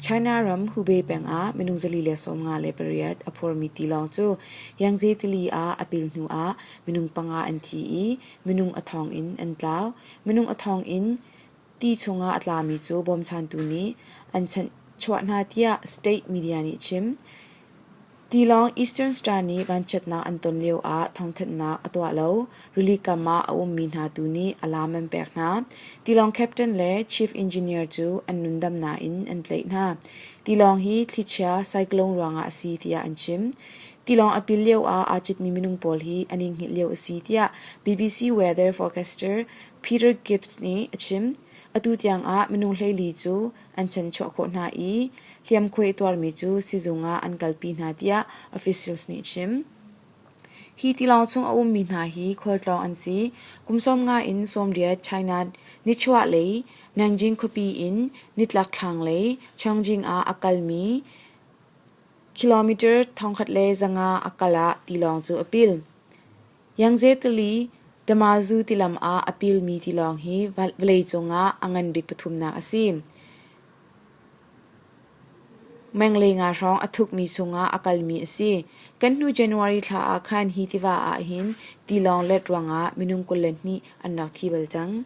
China ram Hubei peng ah minung zali le sawmnga le pariat a phurmi tilawng cu Yangtze tili ah a pil hnu ah minung panga an thi i minung a thong in an tlau. Minung a thong in ti chungah a tlami cu bawmchantu nih an chuah hna tiah state media nih a chim. Tilawng Eastern Star nih vanchiatnak an ton lioah thawngthanhnak a tuah lo, rili kam ah a ummi hna tu nih alam an pek hna. Tilawng captain le chief engineer cu an nundamnak in an tlaih hna. Tilawng hi thlichia cyclone ruangah a si tiah an chim. Tilawng a pil lioah aa citmi minung pawl hi an i hngilh lio a si tiah BBC weather forecaster Peter Gibbs nih a chim. Atu tiangah minung hleili cu an chanchuah khawh hna i hliamkhuai a tuarmi cu sizung ah an kalpi hna tiah officials nih chim. Hi tilawng chung a ummi hna hi khualtlawng an si. Kum sawm nga in sawmriat China nichuah lei Nanjing khuapi in nitlak thlang lei Chongjing ah a kalmi kilometer thongkhat le zanga a kal ah tilawng cu a pil. Yangtze-Tili, Damazu tilam ah a pilmi tilawng hi vawleicung ah a ngan bik pathumnak a si. Menglei nga hrawng a thukmi chungah a kalmi a si. Kan hnu January thla ah khan hi tiva ahhin tilawng let ruangah minung kul le hnih an rak thi bal cang.